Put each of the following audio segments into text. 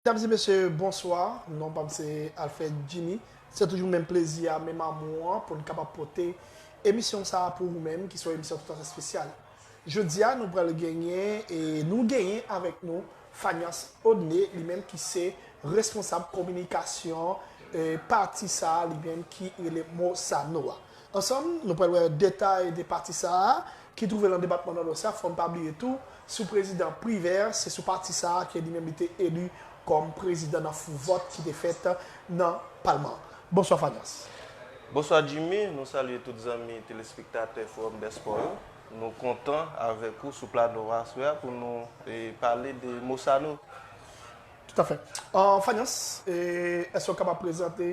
Medam e mesye bonswa, non pam se Alfred Jimmy. Se toujou menm plezi a, menm amou an pou n kapab pote emisyon sa a pou ou menm ki se yon emisyon toutafè spesyal. Jodi a nou pral genyen e nou genyen avèk nou Fanias Audne li menm ki se responsab kominikasyon pati sa a li menm ki rele MOSANO a. Ansanm nou pral wè detay de pati sa a, ki twouve lan depatman Nòdwès la, fò n pa bliye tou, sou prezidan Privert, se sou pati sa a ke li menm li te eli kòm prezidan nan fou vòt ki te fèt nan palman an. Bonswa Fanyas. Bonswa Jimmy, nou salye tout zanmi telespektatè Fowòm dè Spò yo. Nou kontan avèk ou sou plano a aswè a pou nou pale de Mosano. Toutafè. Fanyas, èske w kapab prezante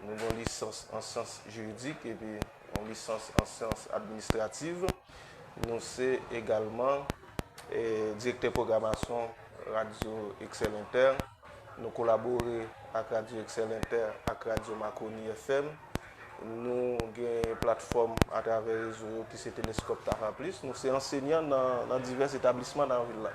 Nou gen yon lisans an syans jiridik epi yon lisans an syans administrativ. Nou se egalman direktè pwogramasyon Radyo Eksèl Entè. Nou kolabore ak Radyo Eksèl Entè ak Radyo Makoni FM. Nou gen platfòm atravè rezo yo ki se Teleskòp Tafa Plis. Nou se ansenyan nan divès etablisman nan vil la.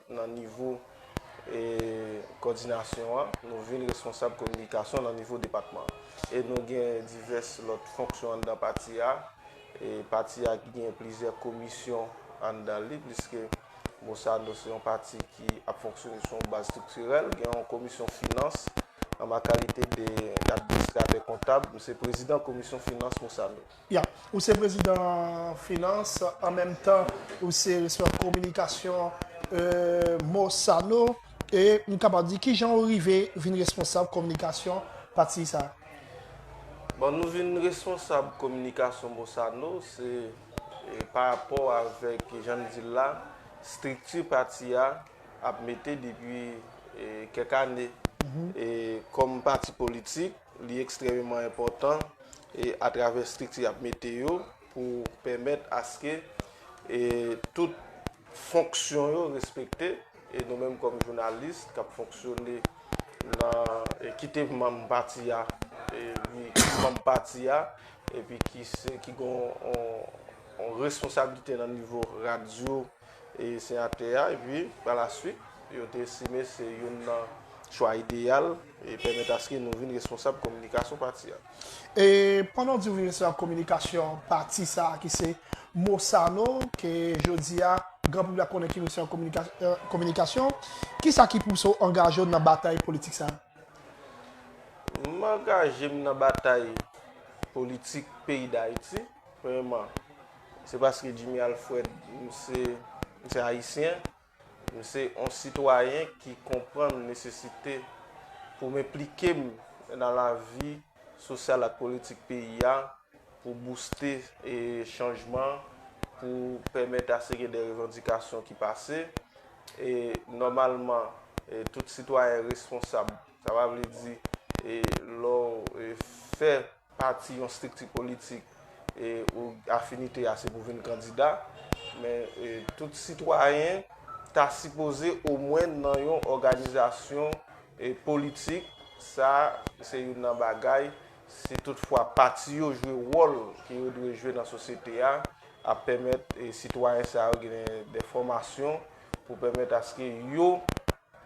nan nivo kòdinasyon an, nou vin responsab kominikasyon nan nivo depatman an. E nou gen divès lòt fonksyon anndan pati a. Pati a ki gen plizyè komisyon anndan li, pliske Mosano se yon pati ki ap fonksyone sou yon baz estriktirèl. Gen yon komisyon finans, an ma kalite de administratè kontab, m se prezidan komisyon finans Mosano. Ya, ou se prezidan finans an menm tan ou se responsab kominikasyon Mosano e m kapab di kijan ou rive vin responsab kominikasyon pati sa? Bon nou vin responsab kominikasyon Mosano se pa rapò avèk jan n di l la estrikti pati a ap mete depi kèk ane e kòm pati politik Li ekstrememan enpòtan e atravè estrikti y ap mete yo pou pèmèt aske tout fonksyon yo respekte e nou menm kòm jounalis k ap fonksyone nan kite manm pati a li manm pati a epi ki gen yon responsablite nan nivo radyo. e seyatè a epi pa la swit yo te estime se youn nan chwa ideyal e pèmèt aske nou vin responsab kominikasyon pati a. E pandan w di ou vin responsab kominikasyon pati sa a ki se Mosano ke jodi a gran piblik la konnen ki responsab kominikasyon, ki sa ki pouse w angaje w nan batay politik sa a? M angaje m nan batay politik peyi Dayiti, premyèman, Se paske Jimmy Alfred se yon Ayisyen, m se yon sitwayen ki konprann nesesite pou m enplike m nan lavi sosyal ak politik peyi a pou bouste chanjman, pou pèmèt ase gen de revandikasyon ki pase. E nòmalman, tout sitwayen responsab, sa pa vle di lè w fè. pati, yon strikti politik ou afinite ase pou vin kandida, men tout sitwayen ta sipoze omwen nan yon òganizasyon politik, sa se youn nan bagay, si tout fwa pati yo jwe wòl ke yo dwe jwe nan sosyete a, ap pèmèt sitwayen sa yo gen de fòmasyon pou pèmèt aske yo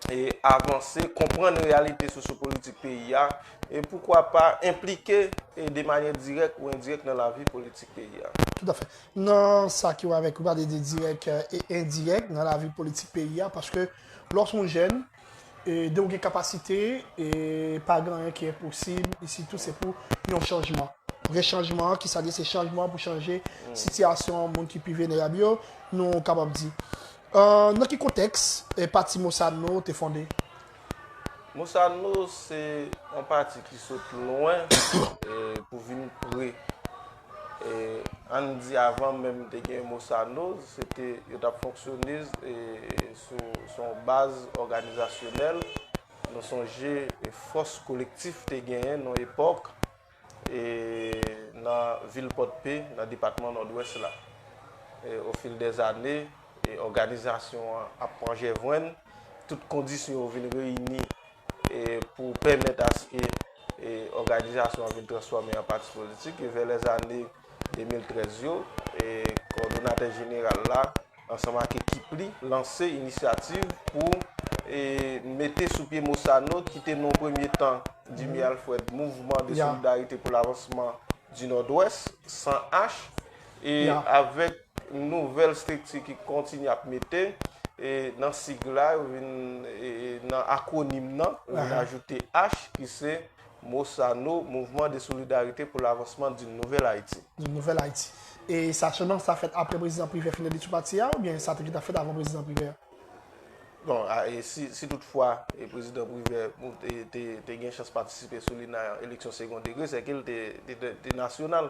e avanse, konprann reyalite sosyopolitik peyi a, e poukwa pa enplike e de manyè dirèk ou endirèk nan lavi politik peyi a. Tout afè. Nan sa ki wè avèk gade de dirèk e endirèk nan lavi politik peyi a, paske lè w s on jèn, e de ou gen kapasite, e pa gen anyen ki enposib, e sitou se pou yon chanjman. Vrè chanjman an, ki sa l ye? Se chanjman pou chanje sitiyasyon moun ki pi venerab yo, nou kapab di. Nan ki kontèks pati Mosanno te fonde? Mosanno se yon pati ki sot lwen pou vin pre. Ann di avan menm te gen Mosanno, se te yo t ap fonksyone sou yon baz òganizasyonèl. Nou sonje fòs kolektif te genyen nan yon epòk. e nan vil Pòdpe nan depatman Nòdwès la. E ofil dè zane, e òganizasyon an ap pran jèvrin, tout kondisyon yo vin reyini e pou pèmèt aske e òganizasyon an vin transfòme an pati politik e vè lè zane. 2013 yo, Kòdonatè Jeneral la ansanm ak ekip li lanse inisyativ pou mete sou pye Mosano ki te nan yon premye tan, Jimmy Alfred, Mouvman de Solidarite pou Lavansman di Nòdwès, SANH, e avèk nouvèl strikti ki kontinye ap mete nan sig la, yo vin nan akwonim nan, yo vin ajoute H ki se. Mosano, Mouvman de solidarite pou lavansman d'un nouvel Ayiti. D'une nouvel Ayiti. E sa selman sa fèt apre Prezidan Privè fin rele sou pati a oubyen sa te gentan fèt avan Prezidan Privè a? Bon, si tout fwa Prezidan Privè te gen chans patisipe sou li nan eleksyon segon degre, sè ke li te nasyonal.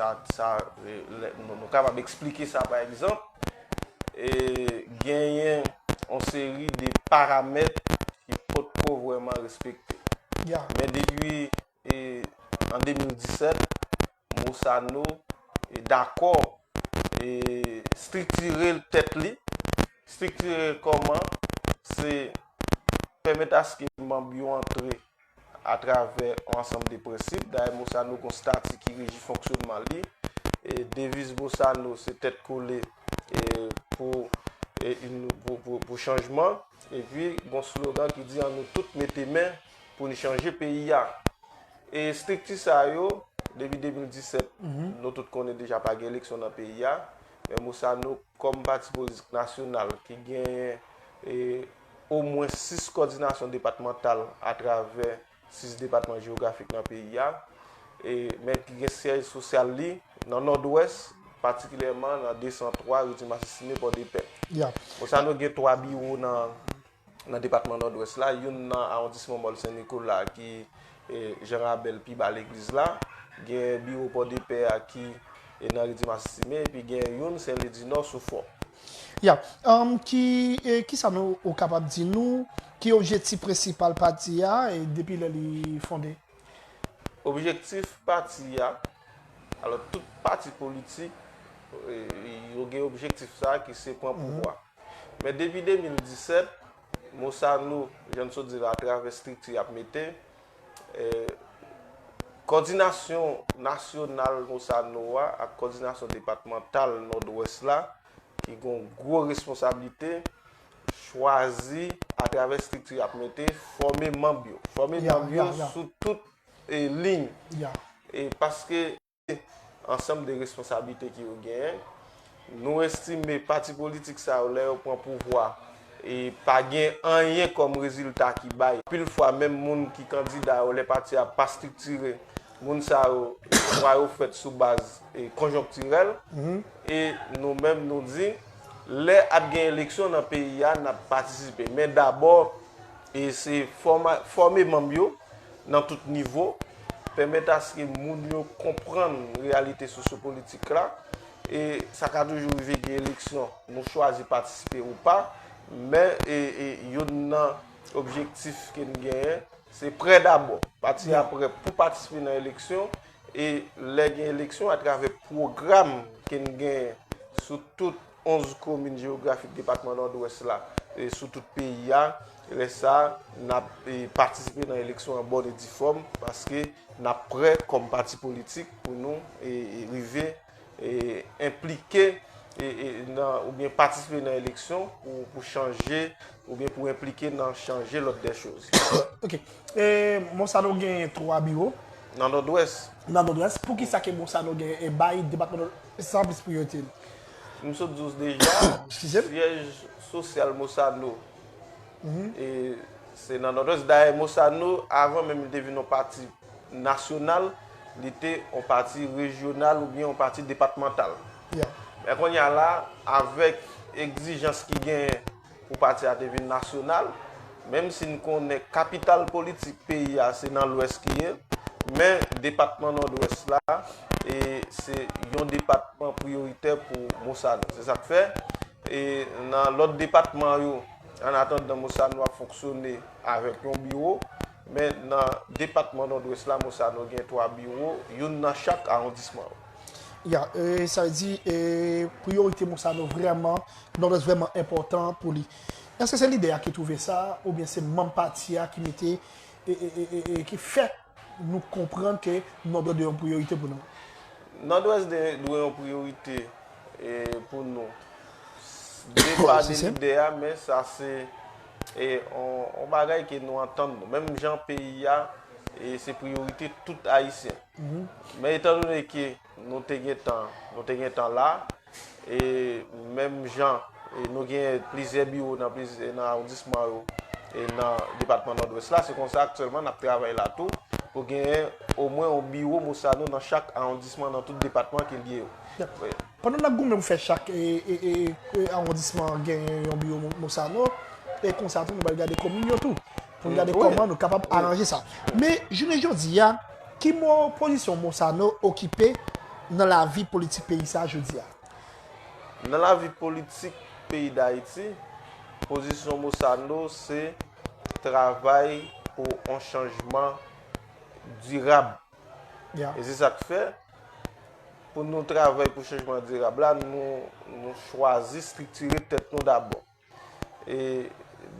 Nou kapab eksplike sa pa egzanp, genyen yon seri de paramèt ki potko vreman respekte. Men depi an 2017, Mosano dakò striktire tèt li, striktire kòman se pèmèt aske manb yo antre atravè yon ansanm de prensip, dayè Mosano gon stati ki reji fonksyonman li, deviz Mosano se tèt kole pou chanjman, epi gon slogan ki di an nou tout mete men pou n chanje peyi a. E estrikti sa yo, depi 2017, nou tout konnen deja pa gen eleksyon nan peyi a, men Mosano kòm pati politik nasyonal ki genyen omwen 6 kòdinasyon depatmantal atravè 6 depatman jewografik nan peyi a, men ki gen syèj sosyal li nan Nòdwès, patikilyèman nan 203 Rue du Massisime, Pòdepè. Bosano gen 3 biwo nan depatman Nòdwès la, youn nan awondisman Mòl Sen Nikola ki Jean Rabel pi ba legliz la, gen biwo Pòdepè a ki nan Rue du Massissime epi gen youn Sen Lwi di Nò sou Fò. Ya. Ki sa nou ou kapab di nou ki objektif prensipal pati a depi lè li fonde? Objektif pati a, alò tout pati politik yo gen objektif sa ki se pran pouvwa. Men depi 2017, Mo sa nou, jan n sot di la, atravè estrikti y ap mete, kòdinasyon nasyonal mo sa nou a ak kòdinasyon depatmantal Nòdwès la ki gen yon gwo responsablite, chwazi atravè estrikti y ap mete, fòme manb yo. Fòme manb yo sou tout liy. Paske. ansanm de responsablite ki yo genyen. Nou estime pati politik sa yo lè yo pran pouvwa e pa gen anyen kòm rezilta ki bay. Anpil fwa menm moun ki kandida yo lè pati a pa striktire, moun sa yo chwa yo fèt sou baz konjonktirèl. E nou menm nou di lè ap gen eleksyon nan peyi a n ap patisipe. Men dabò se fòme manm yo nan tout nivo, pèmèt aske moun yo konprann reyalite sosyopolitik la, e sa ka toujou rive gen eleksyon, nou chwazi patisipe ou pa, men youn nan objektif ke n genyen, se prè dabò, pati a prè pou patisipe nan eleksyon, e lè gen eleksyon atravè pwogram ke n genyen sou tout, 11 komin jewografik depatman Nòdwès la sou tout peyi a. Lè sa a, n ap patisipe nan eleksyon an bòn e difòm paske n ap prè kòm pati politik pou nou rive enplike nan oubyen patisipe nan eleksyon pou chanje oubyen pou enplike nan chanje lòd dè choz. Ok. E Monsano gen 3 biwo? Nan Nòdwès. Nan Nòdwès. Poukisa ke Monsano gen e bay depatman Nòdwès sa anplis priyorite li? M sot di w deja, syèj sosyal Mosano se nan Nòdwès. Dayè Mosano, avan menm li te vin yon pati nasyonal, li te yon pati rejyonal oubyen yon pati depatmantal. Men kounya la, avèk egzijans ki genyen, Pou pati a te vin nasyonal, menm si n konnen kapital politik peyi a se nan lwès ki ye, men depatman Nòdwès la se yon depatman priyoritè pou Mosano. Se sa k fè, nan lòt depatman yo, an atandan Mosano ap fonksyone avèk yon biwo, men nan depatman Nòdwès la, Mosano gen twa biwo, youn nan chak awondisman yo. Ya, sa vle di priyorite mo sa nou vrèman, Nòdwès vrèman enpòtan pou li. Èske se lidè a ki twouve sa oubyen se manm pati a ki mete, ki fè nou konprann ke Nòdwès dwe yon priyorite pou nou? Nòdwès dwe yon priyorite pou nou. De pa de lidè a men sa se yon bagay ke nou antann nou. Menm jan peyi a se priyorite tout Ayisyen. Men etandone ke nou te gen tan, nou te gen tan la, e menm jan nou gen plizyè biwo nan plizyè nan awondisman yo e nan depatman Nòdwès la, se konsa aktyèlman n ap travay la tou pou genyen omwen yon biwo Mosano nan chak awondisman nan tout depatman ke li yo. Pandan n ap goumen pou fè chak awondisman genyen yon biwo Mosano, e konsa tou nou pral gade komin yo tou, pou n gade kòman nou kapab aranje sa. Men, jounen jodi a, ki pozisyon Mosano okipe nan lavi politik peyi sa a jodi a? Nan lavi politik peyi Dayiti, pozisyon Mosano se travay pou yon chanjman dirab E se sa k fè, pou nou travay pou chanjman dirab la, nou chwazi striktire tèt nou dabò. E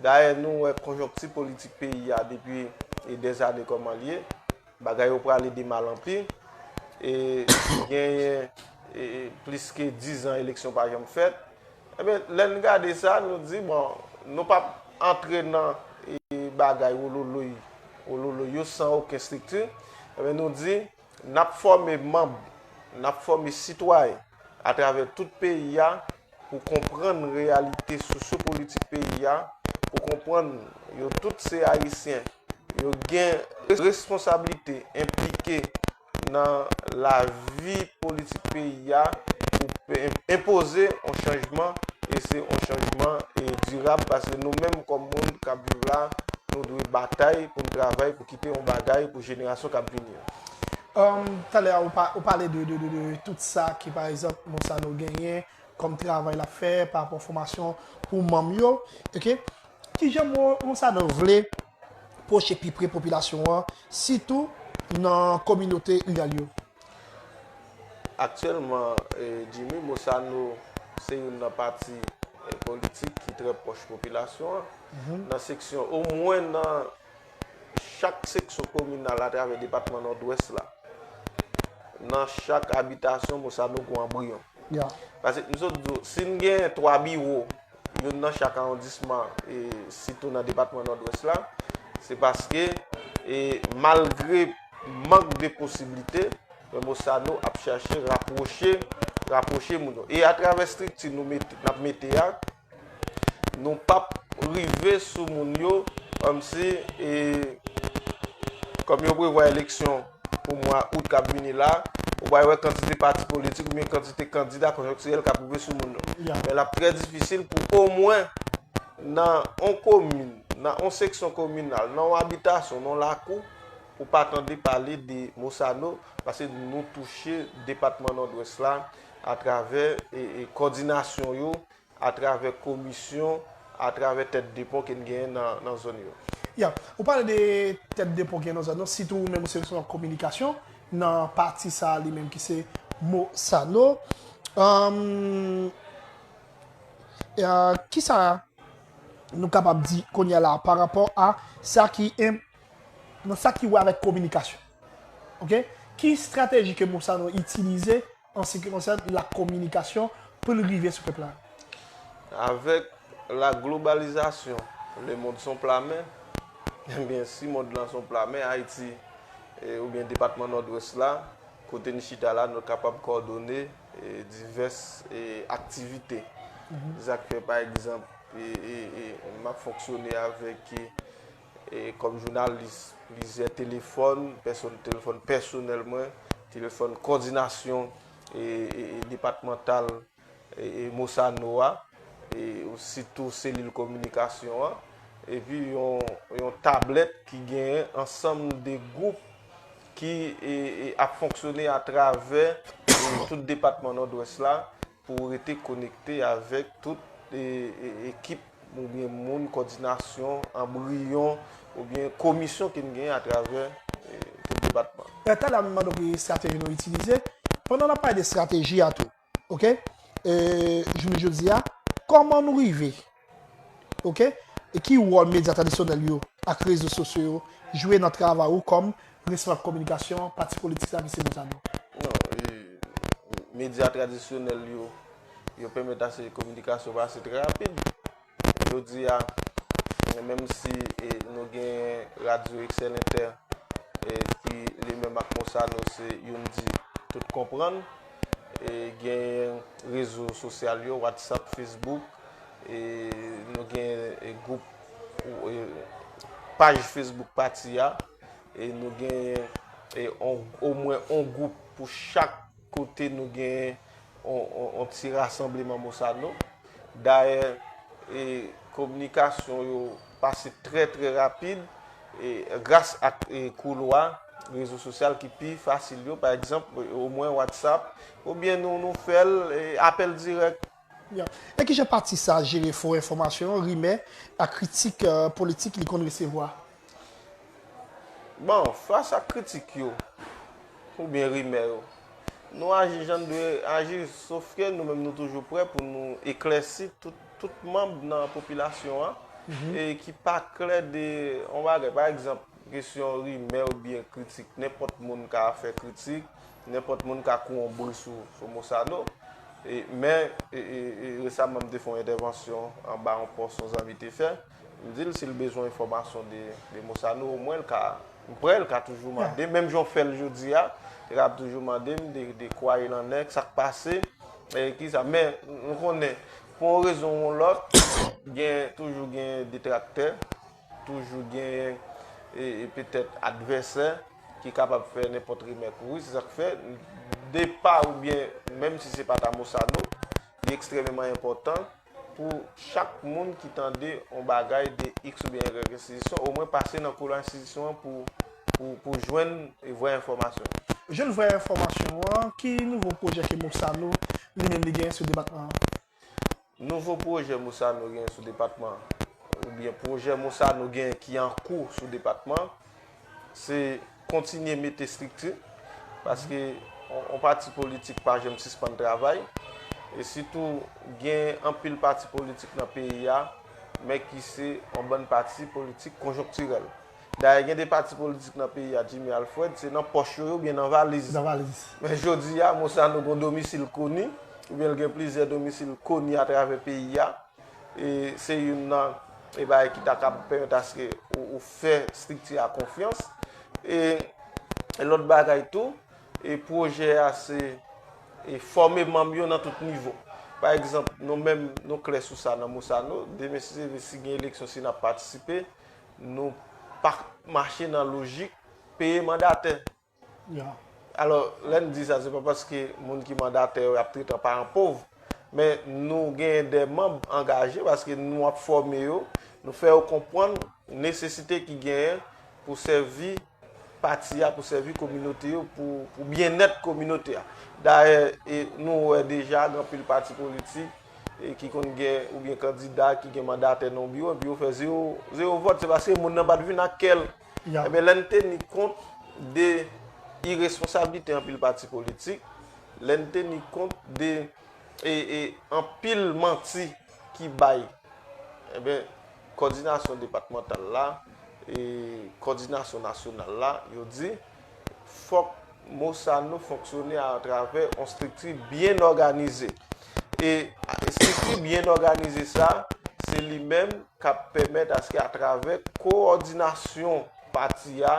dayè nou wè konjonkti politik peyi a depi dèz ane kòman l ye, bagay yo prale de mal an pi. E genyen plis ke dizan eleksyon pa janm fèt. Enben, lè n gade sa, nou di, bon, nou p ap antre nan bagay wouloulouy wouloulouy yo san oken estrikti, enben nou di, n ap fòme manb, n ap fòme sitwayen atravè tout peyi a pou konprann reyalite sosyopolitik peyi a, pou konprann yo tout se Ayisyen, yo gen responsablite, enplike. nan lavi politik peyi a pou enpoze yon chanjman e se yon chanjman dirab paske nou menm kòm moun k ap viv la nou dwe batay pou n travay pou kite yon bagay pou jenerasyon k ap vini yo. Talè a ou pale de tout sa ke pa egzanp Monsano genyen kòm travay l ap fè pa rapò fòmasyon pou manm yo. Ki jan mo Monsadan vle pwoche pi pre popilasyon an, sitou nan kominote riral yo? Aktyèlman, Jimmy, Mosano se youn nan pati politik ki trè pwòch popilasyon an. Nan seksyon, omwen nan chak seksyon kominal atravè depatman Nòdwès la, nan chak abitasyon, Mosano gen yon anbriyon. Pase, m sot di w, si n gen twa biwo, youn nan chak awondisman sitou nan depatman Nòdwès la, se paske malgre mank de posiblite, Raymond Sanon ap chache rapwoche, rapwoche moun yo. E atravè estrikti nou mete, n ap mete a, nou p ap rive sou moun yo kòmsi, kòm yo prevwa eleksyon. pou mwa out k ap vini la, ou pral wè kantite pati politik oubyen kantite kandida konjonktirèl k ap rive sou moun yo. Men l ap trè difisil pou omwen nan on komin, nan on seksyon kominal, nan on abitasyon, nan on lakou, pou pa tande pale de Mosano, paske nou touche depatman Nòdwès la atravè kòdinasyon yo, atravè komisyon, atravè tèt de pon ke n genyen nan zòn yo. Ya, ou pale de tèt de pon ki genyen nan zòn yo, sitou ou menm ou se responsab kominikasyon nan pati sa a li menm ki se Mosano. Ki sa nou kapab di kounye a la pa rapò a sa ki wè avèk kominikasyon? Ok? Ki estrateji ke Mosano itilize an se ki konsène la kominikasyon pou l rive sou pèp la. Avèk la globalizasyon, le mond son pla men, enbyen si mond lan son pla men, Ayiti oubyen depatman Nòdwès la, kote n chita la, nou kapab kòdone divès aktivite. Sa k fè pa egzanp, m ap fonksyone avèk. Kòm jounalis, plizyè telefòn, telefòn pèsonèl mwen, telefòn kòdinasyon depatmantal Mosano a, sitou selil kominikasyon an, epi yon tablèt ki genyen ansanm de gwoup ki ap fonksyone atravè tout depatman Nòdwès la, Pou ou rete konekte avèk tout ekip oubyen moun kòdinasyon, anbriyon oubyen komisyon ki n genyen atravè tout depatman. Lè talè a m mande w ki estrateji nou itilize, pandan n ap pale de estrateji a tou, ok, jounen jodi a, kòman nou rive. Ok, e ki wòl medya tradisyonèl yo ak rezo sosyo yo jwe nan travay ou kòm responab kominikasyon pati politik sa ki se Montano? Non, medya tradisyonèl yo, yo pèmèt ase kominikasyon pase trè rapid. Jodi a, menm si nou genyen radyo Eksèl Entè ki li menm ak Monsano se youn di tout konprann, E gen rezo sosyal yo, WhatsApp, Facebook, e nou gen gwoup, paj Facebook pati a, e nou gen omwen on gwoup pou chak kote nou gen on ti rasanbleman Mosano. Dayè, e kominikasyon yo. pase trè trè rapid gras ak koulwa rezo sosyal ki pi fasil yo, pa egzanp, omwen WhatsApp, oubyen nou fè l apèl dirèk. E kijan pati sa jere fo enfòmasyon, rimè, ak kritik politik li konn resevwa? Bon, fas ak kritik yo, oubyen rimè yo, nou aji jan n dwe aji, sofke nou menm nou toujou prè pou nou eklèsi tout Tout manb nan popilasyon an e ki pa klè de yon bagay. Pa egzanp, kesyon rimè oubyen kritik. Nenpòt moun ka fè kritik, nenpòt moun ka kou yon bri sou Mosano. Men, resaman m te fè yon entèvansyon anba yon pòs yon zanmi te fè. M di l si l bezwen enfòmasyon de Demosano omwen l ka, m prè l ka toujou mande m, menm jan w fè l jodi a, li kab toujou mande m de kwa il an è, sa k pase, ki sa. Men, nou konnen, pou yon rezon ou yon lòt, gen, toujou gen detraktè, toujou gen, e petèt advèsè, ki kapab fè nenpòt rimè pou ou, se sa k fè, depa oubyen, menm si se pa Damosano, li ekstrememan enpòtan. Pou chak moun ki tande yon bagay de X oubyen Y enstitisyon, omwen pase nan koulwa enstitisyon an pou w jwenn vrè enfòmasyon an. Jwenn vrè enfòmasyon an, ki nouvo pwojè ke Moussano li menm li genyen sou depatman an? Nouvo pwojè Moussano genyen sou depatman an, oubyen pwojè Moussano genyen ki an kou sou depatman an, se kontinye mete estrikti, paske yon pati politik pa janm sispann travay, e sitou gen anpil pati politik nan peyi a, men ki se yon bann pati politik konjonktirèl. Dayè gen de pati politik nan peyi a, Jimmy Alfred, se nan pòch yo yo oubyen nan valiz. Nan valiz. Men jodi a, Monsano gen yon domisil koni, oubyen l gen plizyè domisil koni atravè peyi a. E se youn nan e bagay ki ta kab pèmèt aske ou fè estrikti a konfyans. E lòt bagay tou, e pwojè a se e fòme manm yo nan tout nivo. Pa egzanp, nou menm nou klè sou sa nan Mosano, demen si Dieu veut si gen eleksyon si n ap patisipe, nou pa mache nan lojik peye mandatè. Alò, lè n di sa, se pa paske moun ki mandatè yo y ap trete an paran pov, men nou genyen de manb angaje paske nou ap fòme yo, nou fè yo konprann nesesite ki genyen pou sèvi pati a, pou sèvi kominote yo, pou byennèt kominote a. Dayè, nou wè deja gen anpil pati politik ki konn gen oubyen kandida ki gen mandatè nan yon biwo epi yo fè zewo vòt. Se paske moun nan pa t vin ak kè l. Ebyen lè n teni kont de iresponsablite anpil pati politik, lè n teni kont de anpil manti ki bay, ebyen kòdinasyon depatmantal la, kòdinasyon nasyonal la, yo di. fòk mo sa nou fonksyone a travè yon estrikti byen òganize. E estrikti byen òganize sa, se li menm k ap pèmèt aske a travè kowòdinasyon pati a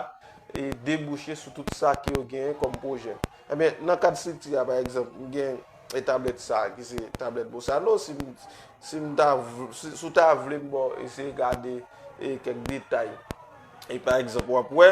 e debouche sou tout sa ke yo genyen kòm pwojè. Ebyen, nan kad estrikti a, pa egzanp, m gen e tablèt sa ki se tablèt Bosano, si m, si m ta vl, si w ta vle m ba w eseye gade e kèk detay, e pa egzanp w ap wè,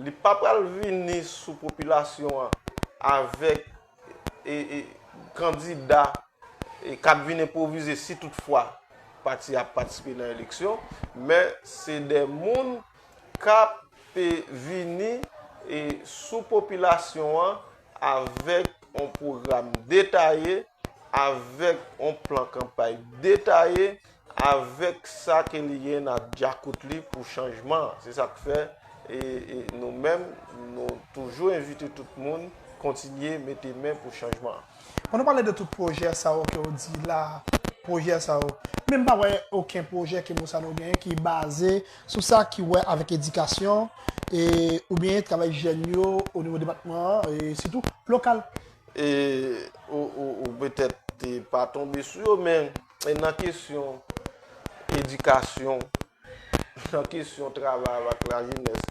Li pa pral vini sou popilasyon an avèk kandida k ap vin enpwovize si tout fwa pati a ap patisipe nan eleksyon, men se de moun k ap vini sou popilasyon an avèk yon pwogram detaye, avèk yon plan kanpay detaye, Avèk sa ke li genyen nan dyakout li pou chanjman an. Se sa k fè nou menm nou toujou envite tout moun kontinye mete men pou chanjman an. Pandan w pale de tout pwojè sa yo ke w di la, pwojè sa yo, men m pa wè oken pwojè ke Mosano genyen ki baze sou sa ki wè avèk edikasyon oubyen travay jèn yo o nivo depatman an e sitou lokal. Ou petèt pa tonbe sou yo men E nan kesyon edikasyon, nan kesyon travay avèk lajenès,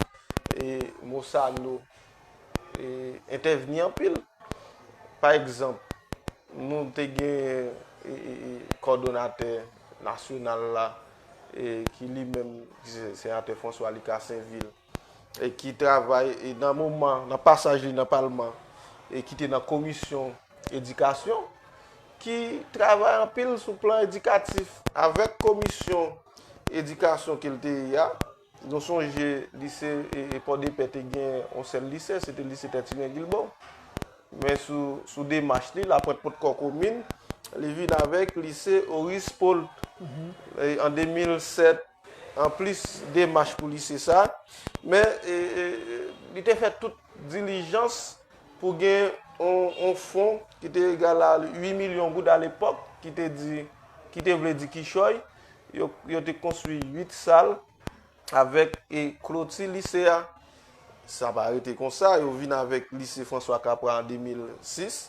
e Mosano e entèvni anpil. Pa egzanp, nou te genyen e kòdonatè nasyonal la e ki li menm, ki se Senatè François Lucas Sainvil, e ki travay e nan moman nan pasaj li nan palman e ki te nan komisyon edikasyon ki travay anpil sou plan edikatif avèk komisyon edikasyon ke l te ye a nou sonje lise e pòdepè te gen yon sèl lise se te lise tètine gilbo men sou demach li laprent potkò komin li vin avèk lise oris polt an 2007. Anplis demach pou lise sa, men li te fè tout dilijans pou gen yon fon ki te egal a 8 milyon goud a lepòk, ki te vle di kichòy, yo te konstwi 8 sal avèk kloti lise a. Sa pa rete konsa, yo vin avèk lise François Capra an 2006.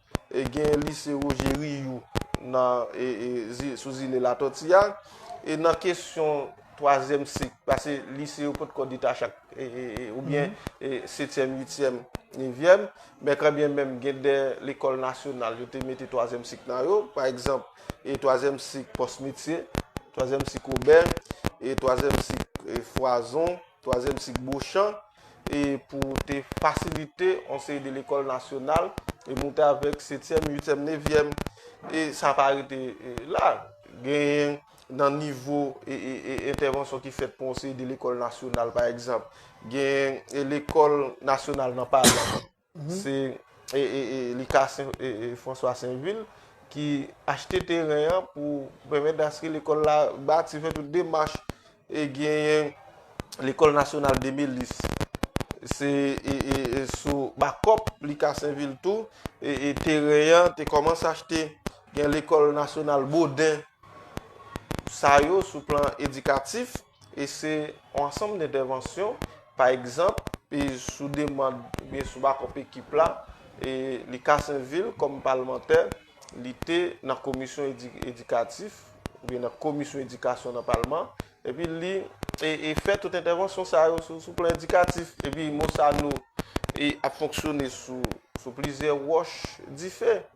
E gen lise Roger Riou nan e e sou zile Latòti a. E nan kesyon twazyèm sik, pase lise yo pot ko detache ak e e e ou byen e setyèm, uityèm, nevyèm. Men kan byen menm gen de lekòl nasyonal yo te mete twazyèm sik nan yo. Pa egzanp, e twazyèm sik pòs metye, twazyèm sik obè, e twazyèm sik e fwazon, twazyèm sik bochan. e pou te fasilite yon seri de lekòl nasyonal e moute avèk setyèm, uityèm, nevyèm e sa pa rete la. Genyen nan nivo e entèvansyon ki fèt pou yon seri de lekòl nasyonal pa egzanp, genyen lekòl nasyonal nan pa la. Se li ka François Sainvil ki achte teren an pou pèmèt aske lekòl la bati, fè tout demach e genyen lekòl nasyonal Demelis. Se sou bakòp li ka Sainvil tou, teren an te kòmanse achte gen lekòl nasyonal Boden. Sa yo sou plan edikatif. E se yon ansanm de entèvansyon, pa egzanp, e sou demand oubyen sou bakòp ekip la, e li ka sèvi l kòm palmantè, li te nan komisyon edikatif, oubyen nan komisyon edikasyon nan palman, epi li e fè tout entèvansyon sa yo sou plan edikatif. Epi mo sa nou e ap fonksyone sou plizyè wòch dife.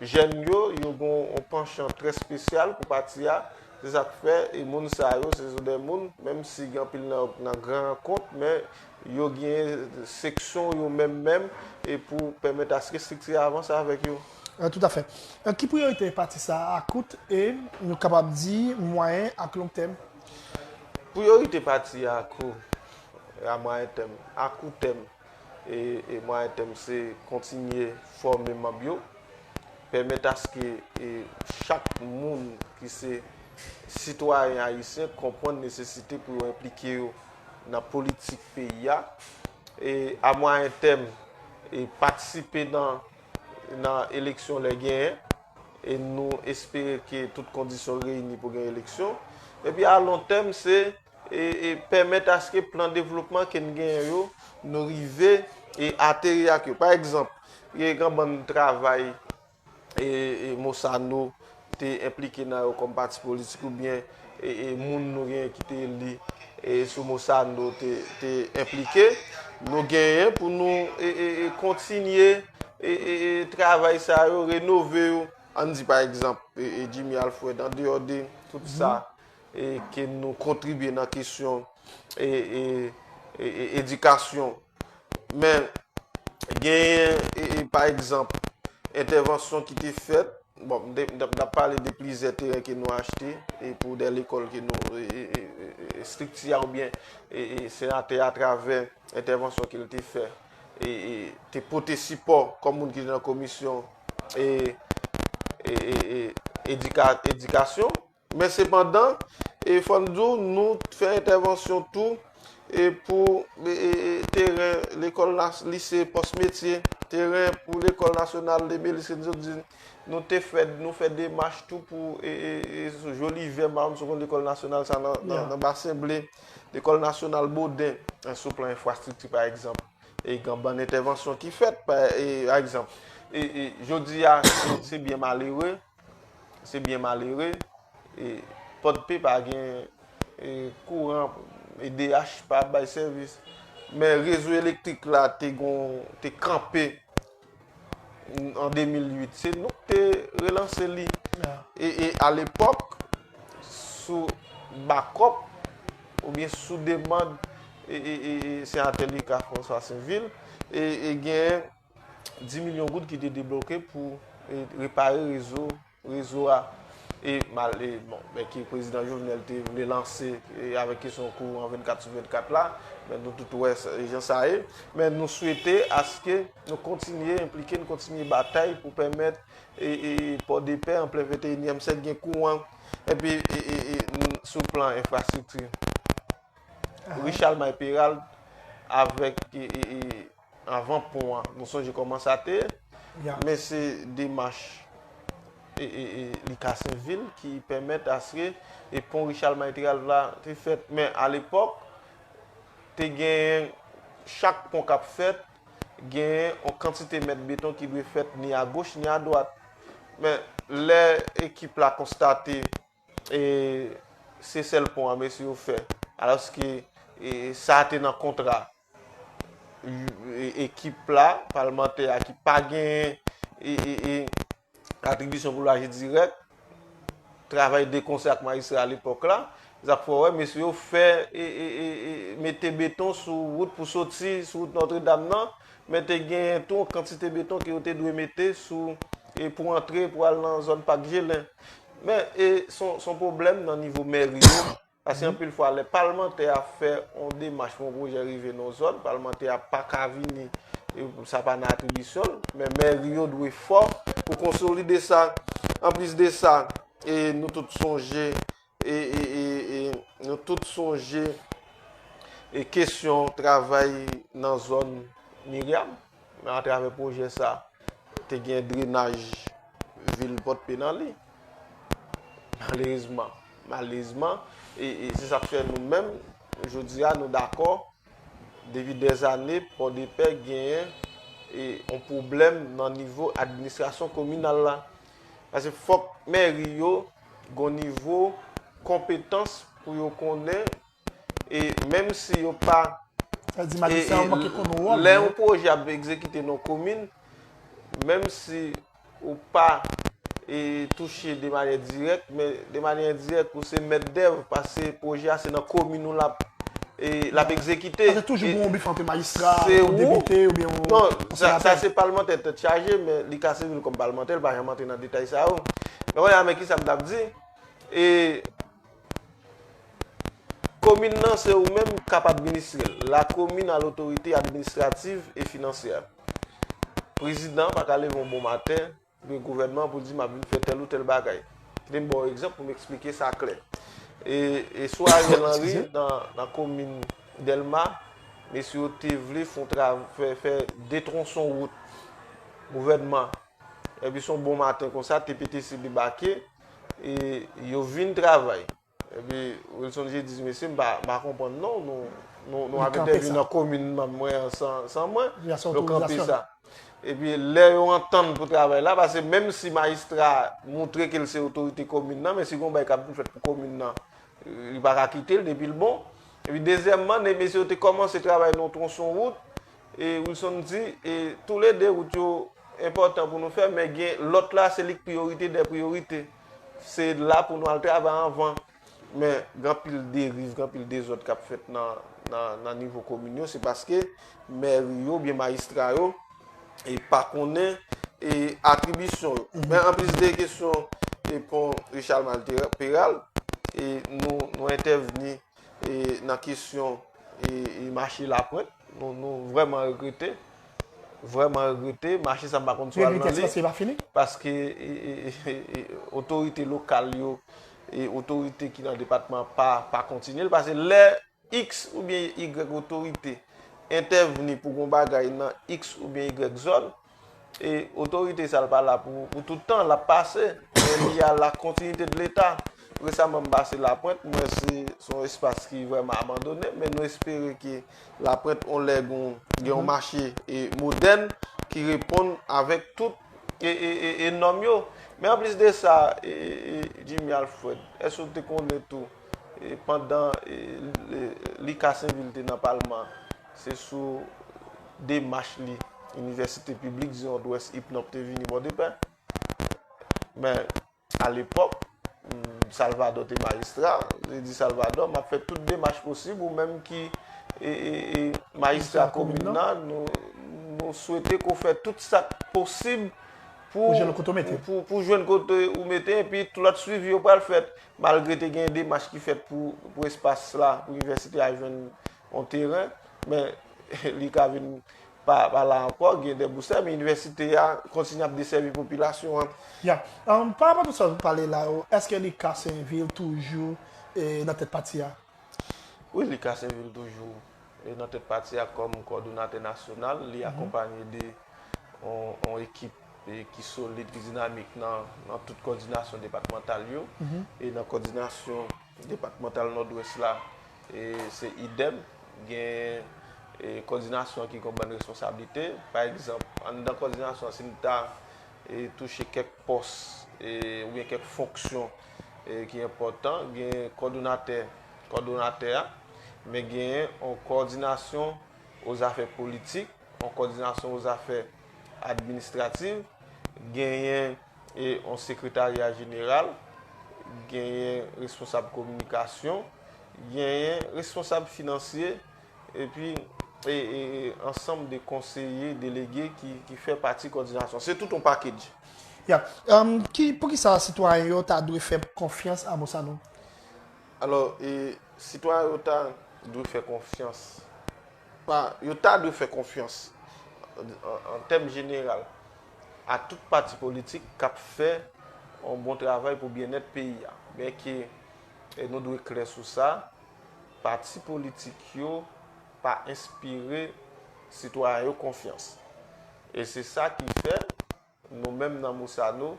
Jèn yo, yo gen yon panchan trè spesyal pou pati a, se sa k fè moun sa yo se sou dè moun, menm si gen anpil nan yo k nan gran rankont, men yo gen seksyon yo menm menm e pou pèmèt aske estrikti a avanse avèk yo. Tout afè. Ki priyorite pati sa a akout e, nou kapab di, mwayen ak long tèm? Priyorite pati a akou e a mwayen tèm. Akou tèm. e mwayen tèm se kontinye fòme manb yo, pèmèt aske chak moun ki se sitwayen ayisyen konprann nesesite pou yo enplike yo nan politik peyi a, e a mwayen tèm patisipe nan eleksyon lè genyen, e nou espere ke tout kondisyon reyini pou gen eleksyon, epi a lon tèm se. e pèmèt aske plan devlopman ke n genyen yo, nou rive e ateri ak yo. Pa egzanp, gen yon bann travay Mosano te enplike nan yo kòm pati politik oubyen moun nou genyen ki te eli sou Mosano te enplike, nou genyen pou nou kontinye travay sa yo, renove yo. An n di pa egzanp, Jimmy Alfred, an deyò de tout sa, e ke nou kontribye nan kesyon edikasyon, men genyen e pa egzanp entèvansyon ki te fèt, bon m ta pale de plizyè teren ke nou achte e pou de lekòl ke nou estrikti a ou byen e senatè a travè entèvansyon ke l te fè e te pote sipò kòm moun ki nan komisyon e edikasyon. Men sepandan, fò n di w, nou fè entèvansyon tou pou teren lekòl lise pòs metye, teren pou lekòl nasyonal de Belize and Zodin. Nou te fè, nou fè demach tou pou Joli Vè, Marom Seconde, lekòl nasyonal sa nan Basen Ble, lekòl nasyonal Boden, sou plan enfrastrikti pa egzanp. E gen bann entèvansyon ki fèt, pa egzanp. Jodi a, se byen malere. Se byen malere, Pòdpe pa gen kouran, edh pa ap bay sèvis. Men rezo elektrik la te kanpe an 2008. Se nou ki te relanse li. E alepòk, sou bakòp, oubyen sou demand, e senatè li ka François Saint-Ville, e gen... 10 milyon goud ki te debloke pou repare rezo rezo a e mal e bon men ki prezidan Jovenel te vle lanse e avèk kesyon kou an 24 sou 24 la men nou tout wè e jan sa ye men nou swete aske nou kontinye enplike nou kontinye batay pou pèmèt e e pòdepè an plen 21 nyèm sèk gen kou an e pi e e e sou plan enfrastrikti Richard Mayperald avèk e e e Anvan pon an, nou sonje kòman sa te ye, men se demach li kase vil ki pèmèt aske pon Richard Maitrealv la te fèt. Men alepòk, te genyen chak pon k ap fèt, genyen yon kantite mèt beton ki dwe fèt ni agoch ni adwat. Men lè ekip la konstate se sèl pon an mesye yo fè, alòske sa te nan kontra ekip la, palmantè a ki pa gen atribisyon pou l aji dirèk, travay de konsè ak majistra a lepòk la, zak fò wè, mesye yo fè, mete beton sou wout pou soti, sou wout Notre Dame nan, men te gen tou yon kantite beton ki yo te dwe mete sou, pou antre, pou al nan zòn Pak Gelen. Men, son pwoblèm nan nivo mèri yo. Paske anpil fwa lè palmantè a fè yon demach pou yon pwojè rive nan yon zòn, palmantè a pa ka vini, sa pa nan atribisyon l, men mèri yo dwe fò pou konsolide sa. Anplis de sa, nou tout sonje, nou tout sonje kesyon travay nan zòn Miriam, atravè pwojè sa, te gen drenaj vil Pòt Pè nan li. Malerezman, malerezman, e se sa k fè nou menm, jodi a, nou dakò, depi dèzane, Pòdepè genyen yon pwoblèm nan nivo administrasyon kominal la. Pase fòk mèri yo gon nivo konpetans pou yo konnen. E menm si yo pa Sa di majistra yo manke konn wòl yo. Lè yon pwojè ap egzekite nan yon komin, menm si ou pa touche de manyè dirèk, men de manyè endirèk ou se mèt dèv paske pwojè a se nan komin ou l ap egzekite. Paske toujou gen yon bif ant yon majistra, yon depite oubyen yon senatè. Non, sa se palmantè tèt chaje men li ka sèvi l kòm palmantè, l pa janm antre nan detay sa yo. Men kounya men kisa m t ap di. Komin nan se ou menm k ap administre l. La komin a lotorite administrativ e finansyè. Prezidan pa ka leve yon bon maten, oubyen gouvènman pou l di m ap vin fè tèl ou tèl bagay. Kite m ba w egzanp pou m eksplike sa klè. E sou Ariel Henry nan komin Dèlma, mesye yo te vle fè 2 tronson wout. Gouvènman, epi s on bon maten konsa, TPTC debake. E yo vin travay. Epi Wilson J. di di mesye m pa konprann non nou ap entèvni nan komin mwen an san mwen. Nou kanpe sa. Epi lè yo antann pou travay la pase menm si majistra moutre ke l se otorite komin nan men si gon bagay k ap vin fèt pou komin nan li pa ka kite l depi l bon. Epi dezyèmman mesye yo te kòmanse travay nan yon twonson wout. E Wilson di, e tou le 2 wout yo enpòtan pou nou fè men gen lòt la se li k priyorite dè priyorite. Se la pou nou al travay anvan. Men gen anpil deriv, gen anpil dezòd k ap fèt nan nivo komin yo se paske mèri yo oubyen majistra yo pa konnen atribisyon yo. Men anplis de kesyon pon Richard Mal Peral, nou entèvni. nan kesyon e mache lapwent, nou vreman regrete, vreman regrete, mache sa m pa konn sou al nan li, paske otorite lokal yo, e otorite ki nan depatman pa kontinye l, paske lè x ou byen y otorite entèvni pou kon bagay nan x ou byen y zòn, E otorite sa l pa la pou tout tan, l ap pase. Men li a la kontinite de leta. Resaman m pase Lapwent, m wè se yon espas ki vrèman abandone, men nou espere ke Lapwent yon lè gen yon mache modèn ki reponn avèk tout e nòm yo. Men anplis de sa, Jimmy Alfred, èske ou te konnen tou pandan Lucas Sainville te nan palman, Se sou demach li Inivèsite Piblik di Nòdwès, IPNOP, te vini Bòdepè. Men, alepòk, Salvadò te majistra. Li di Salvadò, m ap fè tout demach posib, ou menm ki majistra komin nan, nou swete ke w fè tout sa k posib pou jwenn kote ou mete, epi tout lòt swivi yo pral fèt. Malgre te gen demach ki fèt pou espas la, pou Inivèsite a jwenn On teren, men li ka vin pa la ankò, gen de boustè, men inivèsite a kontinye ap desèvi popilasyon an. Ya. Pa rapò tout sa ou pale la yo, èske li Kasenvil toujou nan tèt pati a? Wi, li Kasenvil toujou nan tèt pati a kòm kòdonatè nasyonal. Li akonpanye de on ekip ki solid, ki dinamik nan tout kòdinasyon depatmantal yo e nan kòdinasyon. Depatmantal Nòdwès la se idèm, gen kòdinasyon an ki gon bann responsablite. Pa egzanp, anndan kòdinasyon an si m ta touche kèk pòs oubyen kèk fonksyon ki enpòtan, gen kòdonatè, kòdonatè a, men genyen yon kòdinasyon o zafè politik, yon kòdinasyon o zafè administrativ, genyen. E yon sekretarya jeneral, genyen responsab kominikasyon, genyen responsab finansye, epi e ansanm de konseye delege ki fè pati kòdinasyon. Se tout yon package. Ya. Poukisa sitwayen yo ta dwe fè konfyans a Bossano? Alò, e sitwayen yo ta dwe fè konfyans. Pa, yo ta dwe fè konfyans, an tèm jeneral. a tout pati politik kap fè yon bon travay pou byennèt peyi a. Men ke nou dwe klè sou sa, pati politik yo pa enspire sitwayen yo konfyans. E se sa ki fè, nou menm nan Moussano,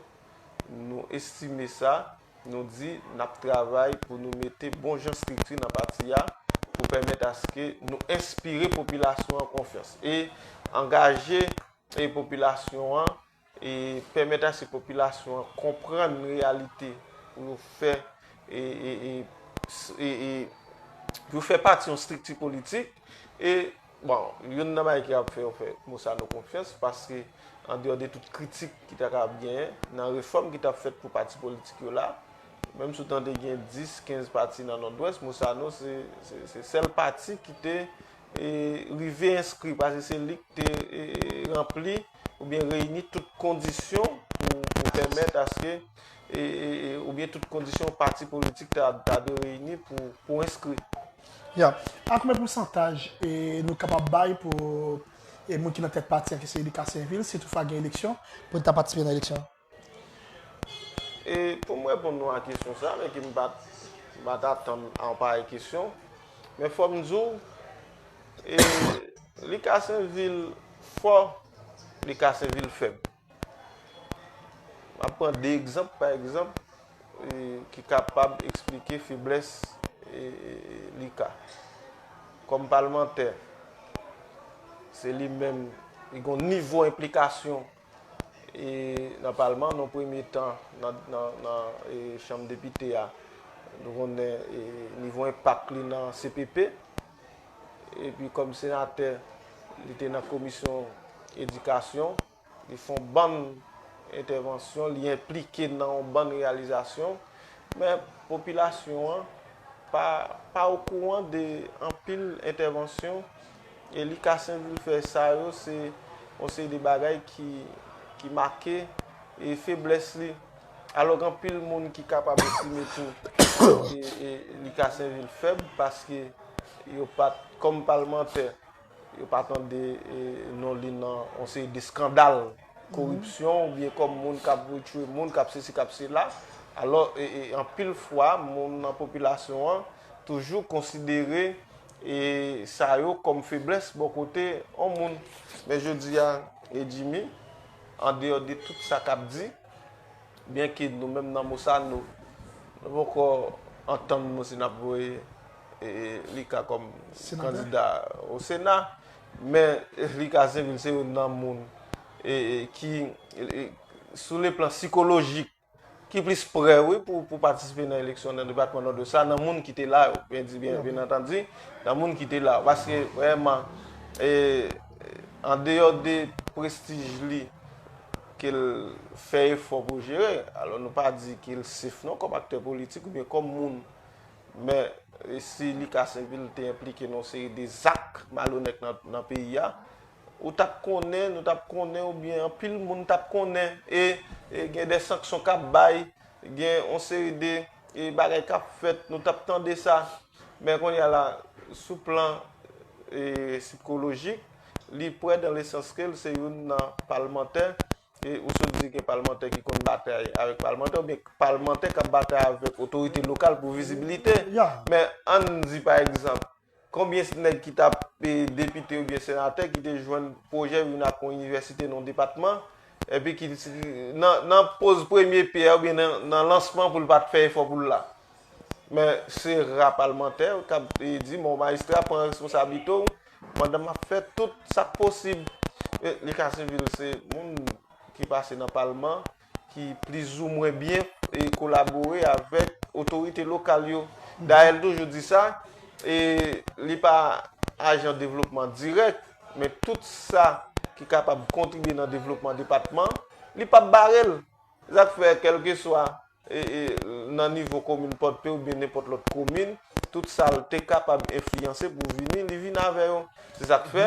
nou estime sa, nou di nap travay pou nou mete bon jan strikti nan pati a, pou pèmèt aske nou enspire popilasyon an konfyans. E angaje. e popilasyon an e pèmèt ase popilasyon an konprann reyalite pou yo fè e e e pou yo fè pati yon strikti politik e bon youn nan bagay ki ap fè yo fè Mosano konfyans paske andeyò de tout kritik ki ta kapab genyen nan refòm ki t ap fèt pou pati politik yo la menm si w tande gen 10, 15 pati nan Nòdwès Mosano se se sèl pati ki te rive enskri paske se li ki te ranpli oubyen reyini tout kondisyon pou pèmèt aske oubyen tout kondisyon pati politik ta dwe reyini pou enskri. Ya. A konbyen pousantaj nou kapab bay pou moun ki nan tèt pati a ki se Lucas Sainvil si toutfwa gen eleksyon pou li ta patisipe nan eleksyon an? E pou m reponn nou a kesyon sa, men ke m pa t atann a yon parèy kesyon, men fò m di w, e li ka se yon vil fò, li ka se yon vil fèb. M ap pran de egzanp, pa egzanp, ki kapab eksplike feblès li ka. Kòm palmantè, se li menm, li gon nivou enplikasyon. nan palman nan premye tan nan chanm depite a nou konnen nivo enpak li nan CPP epi kòm senatè li te nan komisyon edikasyon li fon bann entèvansyon li enplike nan yon bann reyalizasyon men popilasyon an pa okouran de anpil entèvansyon E li ka senplifye sa yo se yon seri de bagay ki make e feblès li. Alò gen anpil moun ki kapab estime tou e li ka senplifye fèb paske yo pat kòm palmantè yo pa tande e non li nan yon seri de skandal koripsyon ou byen kòm moun k ap retire moun k ap se si k ap se la. Alò e anpil fwa moun nan popilasyon an toujou konsidere. E sa yo kòm feblès bò kote on moun. Men jodi a, e Jimmy, an deyò de tout sa k'ap di, byen ke nou menm nan Mosano, nou poko antann nou si n'ap voye li ka kòm kandida o Sena, men li ka se youn nan moun ki sou le plan sikolojik, Ki plis prè wi pou patisipe nan eleksyon nan depatman Nòdwès la nan moun ki te la yo. Mwen di byen byen antandi nan moun ki te la yo. Paske vreman an deyò de prestij li ke l fè efò pou jere. Alò nou pa di ke l sef non kòm aktè politik oubyen kòm moun. Men si li ka sèvi l te enplike nan yon seri de zak malonèt nan peyi a. Ou tap konnen, nou tap konnen ou byen anpil moun tap konnen e gen de sanksyon kap bay, gen yon seri de bagay kap fèt, nou tap tande sa. Men kounye a la, sou plan sikolojik, li prè dan le sans ke l se youn nan palmantè e ou sot di gen palmantè ki konn batay avèk palmantè ou byen palmantè kap batay avèk otorite lokal pou vizibilite. Men an di pa egzanp. Konbyens nèg ki tap depite oubyen senatè ki te jwenn pwojè vin ak yon inivèsite nan yon depatman, epi ki nan poz premye pyè oubyen nan lansman pou l pat fè efò pou l la? Men se ra palmantè kap di bon majistra pran responsablite w pandan map fè tout sak posib. Li ka sivil se moun ki pase nan palman ki plizoumwen byen kolabore avèk otorite lokal yo. Dayèl toujou di sa, e li pa ajan devlopman dirèk, men tout sa ki kapab kontribye nan devlopman depatman, li pap bare l. Se sa k fè kèlkeswa nan nivo komin Pòdpe oubyen nenpòt lòt komin, tout sa l te kapab enfliyanse pou vini, li vin avè yo. Se sa k fè.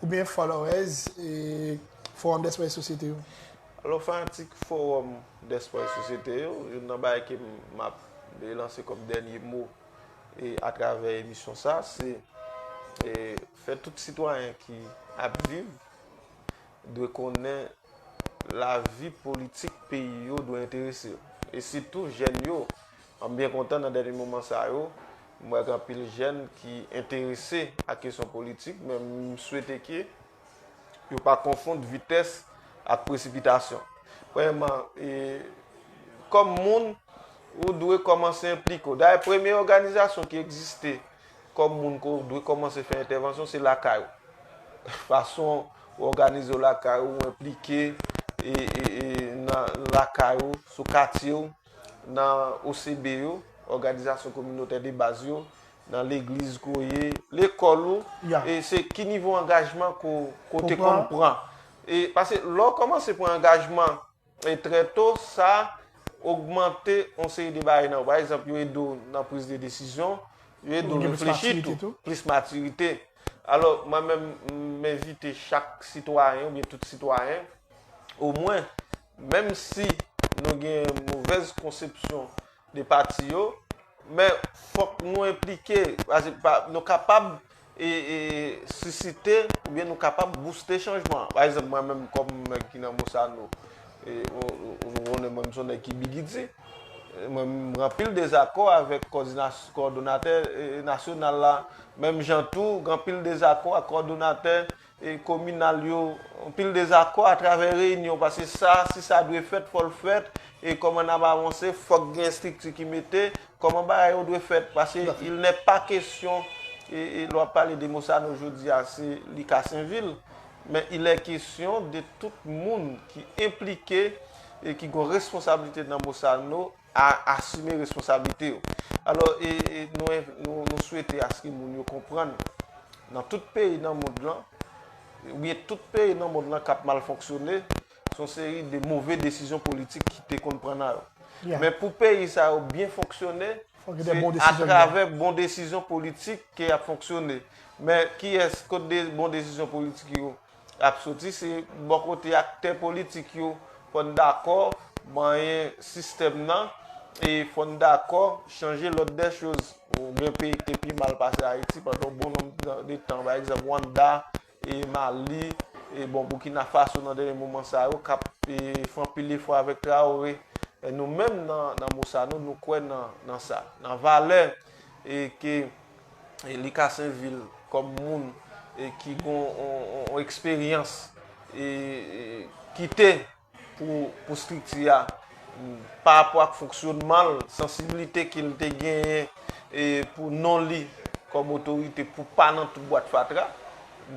oubyen followers Forum Despwa e Sosyete yo? Alò fanatik Forum Despwa e Sosyete yo, youn nan bagay ke m ap lanse kòm dènye mo atravè emisyon sa, se fè tout sitwayen ki ap viv dwe konnen Lavi politik peyi yo dwe enterese yo. E sitou jèn yo. M byen kontan nan dènye moman sa yo, m wè gen anpil jèn ki enterese ak kesyon politik, men m swete ke yo pa konfond vitès ak presipitasyon. Premyèman, kòm moun, ou dwe kòmanse enplike w. Dayè premye òganizasyon ki egziste Kòm moun ke w dwe kòmanse fè entèvansyon, se lakay ou. Fason ou òganize w lakay ou, ou enplike nan lakay ou, sou katye ou, nan OCB yo, òganizasyon kominotè de baz yo, nan legliz ke w ye, lekòl ou, e se ki nivo angajman ke w te konn pran. Pase lè w kòmanse pran angajman. E trè to, sa ogmante yon seri de bagay nan ou. Pa egzanp, yo ede w nan priz de desizyon, yo ede w reflechi tou, plis matirite. Alò, mwen menm, m envite chak sitwayen oubyen tout sitwayen, omwen, menm si nou gen movèz konsepsyon, 2 pati yo, men fòk nou enplike, nou kapab sisite oubyen nou kapab bouste chanjman an. Pa egzanp mwen menm kòm nèg ki nan Bosano, nou konnen mwen menm son nèg ki bigidi, mwen menm m gen anpil dezakò avèk kòdonatè nasyonal la, menm jan tou gen anpil dezakò ak kòdonatè. kominal yo anpil dezakò atravè reyinyon paske sa si sa dwe fèt fò l fèt e kòman n ap avanse fòk gen estrikti ki mete kòman bagay yo dwe fèt paske il nè pa kesyon lè w ap pale de mosano jodi a se li kasenvil men il è kesyon de tout moun ki enplike e ki gon responsablite nan mosano a asime responsablite yo. Alò, nou swete aske moun yo konprann nan tout peyi nan mond lan, oubyen tout peyi nan mond lan k ap mal fonksyone, se yon seri de move desizyon politik ki te konn pran nan yo. Men pou peyi sa yo byen fonksyone, se atravè bon desizyon politik ke y ap fonksyone. Men kiyès, kot bon desizyon politik yo? ap soti se bò kote aktè politik yo fò n dakò manyen sistèm nan e fò n dakò chanje lòd dè choz ou gen peyi ki te pi mal pase ayiti pandan yon bon nonm de tan pa egzanp wanda e mali e bon boukina faso nan dènye moman sa yo k ap fè anpil efò avèk traore nou menm nan mousa nou nou kwè nan sa nan valè. e ke li ka sèvil kòm moun ki gon yon eksperyans e kite pou strikti a pa rapò ak fonksyonman l, sansiblite ke l te genyen e pou non li kòm otorite pou pa nan tout bwat fatra.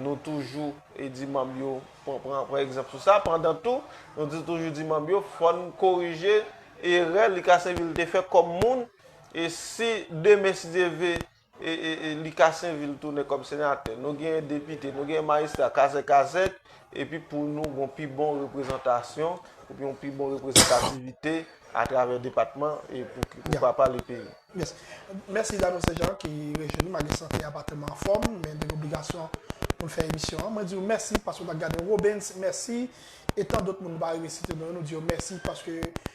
Nou toujou di manm yo pran egzanp sou sa. Pandan tou, nou toujou di manm yo fòn korije erè li ka sèvi l te fè kòm moun. E si demen si Dye ve e li Kasenvil tounen kòm senatè, nou genyen depite, nou genyen majistra kazèk kazèk, epi pou nou gon pi bon reprezantasyon, epi yon pi bon reprezantativite a travè depatman e pou ki pou pa pale peyi. Yes. Mèsi Dano Sejan ki rejoini malgre sante a pa tèlman anfòm, men li gen obligasyon pou l fè emisyon an. Mwen di w mèsi paske w ta gade Robens, mèsi, e tan dot moun nou pa rive site non yo, nou di yo mèsi paske